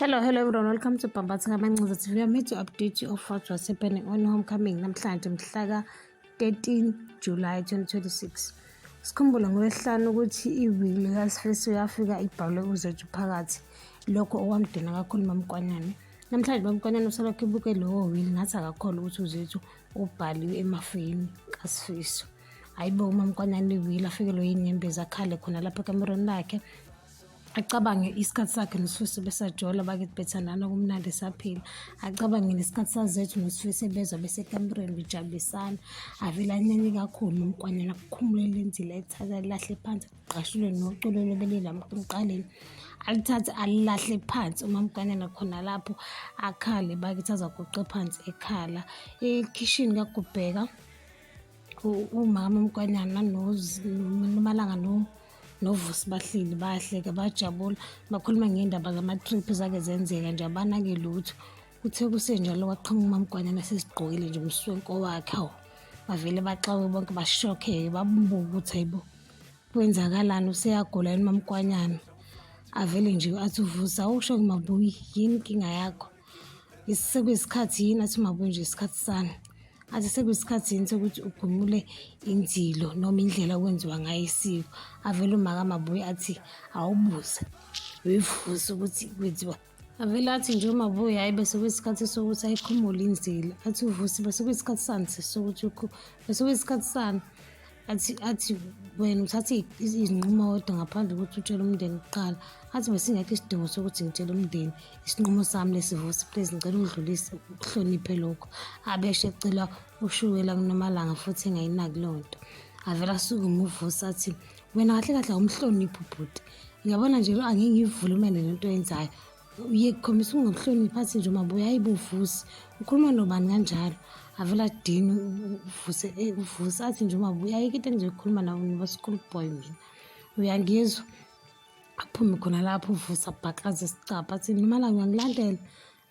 Hello, hello everyone. Welcome to Bambatha Kamancinza TV. I'm here to update you of what was happening on homecoming namhlanje mhlaka 13 July 2026. Sikhumbule ngolwesihlanu ukuthi iwili likaSifesi uyafika ibhalwe uzethu phakathi lokho okwamdina kakhulu mamkwanyane. Namhlanje mamkwanyane usalokhu ebuke lowo wili ngathi akakholwa ukuthi uzethu ubhaliwe emafini kaSifiso. Hayibo umamkwanyane iwili afikelwe yinyembezi akhale khona lapha ekamerweni lakhe acabange isikhathi sakhe nosifiso besajola bakithi bethandana kumnandi esaphila acabange nesikhathi sazethu nosifiso ebezwa besekambereni bejabulisana avele anyanye kakhulu nomkwanyana kukhumule lenzile ethatha lilahle phansi kuqashulwe noculo lobelelamuqaleni alithathe alilahle phansi umamkwanyana khona lapho akhale bakithi azaguqe phansi ekhala ekhishini kakubheka umama umkwanyana nomalanga no novusi bahleli bahleke bajabula bakhuluma ngendaba zama-trip zake zenzeka nje abanake lutho kuthe kusenjalo kwaqhamuka umamgwanyana sesigqokile nje umswenko wakhe awu bavele baxawe bonke bashokheke babubuke ukuthi hayibo kwenzakalani useyagula yini mamgwanyana avele nje athi uvusa awusho kumabuyi yini inkinga yakho sekuyisikhathi yini athi uma kunje isikhathi sani athi sekuyisikhathi yini sokuthi ugumule inzilo noma indlela okwenziwa ngayo isiko avele umaka mabuye athi awubuze uyivuze ukuthi kwenziwa avele athi nje umabuye hhayi bese kuyisikhathi sokuthi ayikhumule inzilo athi uvusi bese kuyisikhathi sani sokuthi bese kuyisikhathi sani athi athi wena uthathe izinqumo kodwa ngaphandle kokuthi utshele umndeni kuqala athi besingekho isidingo sokuthi ngitshele umndeni isinqumo sami lesivusi please ngicela ungidlulise ukuhloniphe lokho abeshe ecelwa ushukela kunomalanga futhi engayinaki loo nto avele asuke umuvusi athi wena kahle kahle awumhloniphi ubhuti ngiyabona nje lo angingivulumele lento yenzayo uye kukhombisa ungakuhloniphi athi nje umabuya ayibuvusi ukhuluma nobani kanjalo avela dini uvuse eh, uvuse athi nje umabuya ayike into engizoyikhuluma nawo ngoba school boy mina uyangizwa aphume khona lapho uvusa bhaqaze isicabha athi nomalanga uyangilandela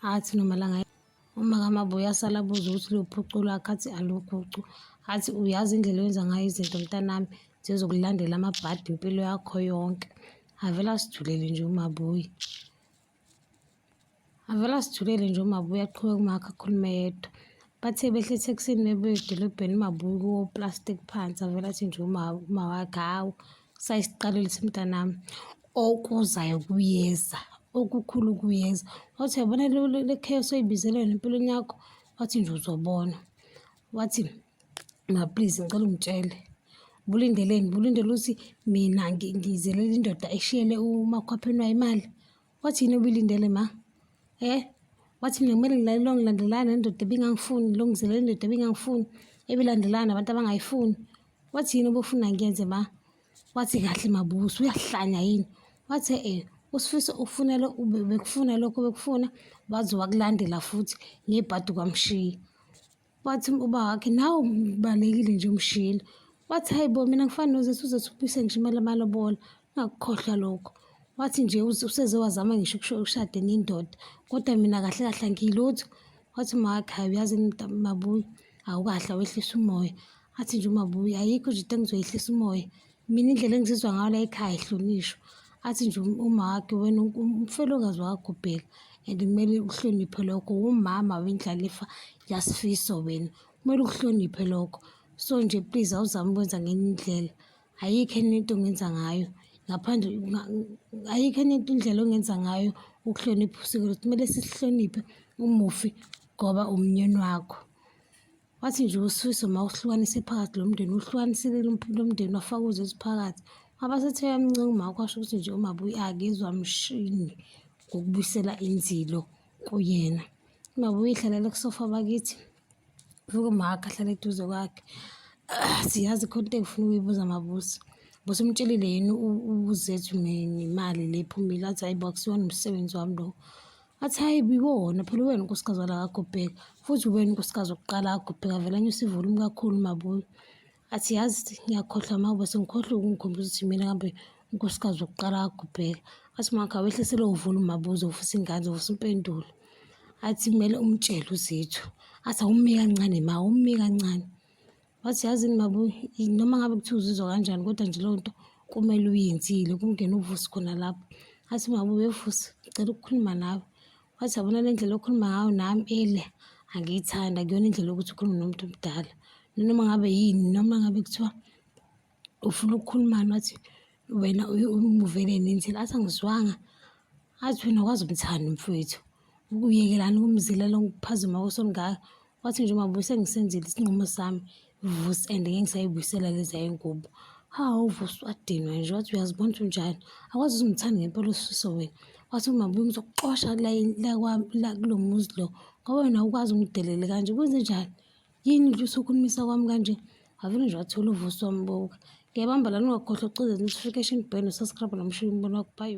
athi nomalanga Uma kamaba uyasala abuze ukuthi luphuculo akhathi aluphucu athi uyazi indlela oyenza ngayo izinto mntanami zizokulandela amabhadi impilo yakho yonke avele asijulele nje umabuyi avele asijulele nje umabuyi aqhubeke umakhe akhulume yedwa bathe behle ethekisini bebuya edolobheni umabuyi kuwo plastic phansi avele athi nje umawakhe hawu sayisiqalelise mntanami okuzayo kuyeza okukhulu kuyeza wathi uyabona le chaos oyibizelwe empilweni yakho wathi nje uzobona wathi ma please ngicela ungitshele bulindeleni bulindele ukuthi mina ngizelele indoda eshiyele umakhwapheni wayo imali Wathini ubilindele ma? Eh? Wathi mina kumele ngilalele ongilandelana nendoda ebingangifuni, longizelele indoda ebingangifuni, ebilandelana nabantu abangayifuni. Wathini obufuna ngiyenze ma? Wathi kahle mabuso uyahlanya yini? Wathi eh usifisa ukufunela bekufuna lokho bekufuna waze wakulandela futhi ngebhadi kwamshiya. wathi uba wakhe nawo balekile nje umshini wathi hayi bo mina ngifana nozethi uzethi ubuyise ngisho imali amalobola ungakukhohlwa lokho wathi nje useze wazama ngisho ukushade nendoda kodwa mina kahle kahle angiyilutho wathi umakhe hayi uyazi mabuyi awukahle wehlisa umoya athi nje umabuyi ayikho nje into engizoyehlisa umoya Mina indlela engizizwa ngayo la ekhaya ihlonishwa athi nje um, umake wena umfelokazi wakho bheka and kumele uhloniphe lokho wumama wendlalifa yasifiso wena kumele ukuhloniphe lokho so nje please awuzame ukwenza ngenye indlela ayikho enye into ongenza ngayo ngaphandle ayikho enye into indlela ongenza ngayo ukuhlonipha usiko lwethu kumele sisihloniphe umufi ngoba umnyeni wakho Wathi nje uSifiso mawuhlukanise phakathi lo mndeni uhlukanisile lo mndeni wafaka uZethu phakathi. Abasethe yamncenga umama kwasho ukuthi nje umabuyi akezwa mshini ngokubuyisela inzilo kuyena. Umabuyi ihlalele kusofa bakithi. Vuka umaka ahlale eduze kwakhe. Ah, siyazi khona into engifuna ukuyibuza mabusi. Busi umtshelile yini uZethu nemali le phumile athi hayi bo akusiyona umsebenzi wami lo. Athi hhayi biwona phela uwena unkosikazi wala kagobheka futhi uwena unkosikazi wokuqala kagobheka vele anyusa ivolumu kakhulu umabuyo athi yazi ngiyakhohlwa mawube sengikhohlwe ukungikhombisa ukuthi mina kambe unkosikazi wokuqala kagobheka athi makha wehlise lowo volumu mabuze ufisa ingane ufisa impendulo athi kumele umtshele uzethu athi awumi kancane ma awumi kancane wathi yazi ni baba noma ngabe kuthiwa uzizwa kanjani kodwa nje leyo nto kumele uyenzile kungena uvusi khona lapho athi baba ubevusi ngicela ukukhuluma nawe wathi yabona le ndlela okhuluma ngayo nami ele angiyithanda kuyona indlela yokuthi ukhulume nomuntu omdala noma ngabe yini noma ngabe kuthiwa ufuna ukukhulumani wathi wena umuvele nenzela athi angizwanga athi wena kwazi umthanda mfowethu ukuyekelani ukumzilela ukuphazima kosongaka wathi nje uma buse ngisenzile isinqumo sami vus and ngeke ngisayibuyisela leza yengubo hawu vus wadinwa nje wathi uyazibona ukuthi unjani akwazi uzimthanda ngempela usifiso wena wathi uma buye ngizokuxosha la kulo muzi lo ngoba wena ukwazi ungidelele kanje kwenze njani Yini nje usukhulumisa kwami kanje? Ave nje wathula uvuso wami boka. Ngiyabamba la ningakhohlwa ukucozela notification bell no-subscribe nomshini umbona wakho. Bye.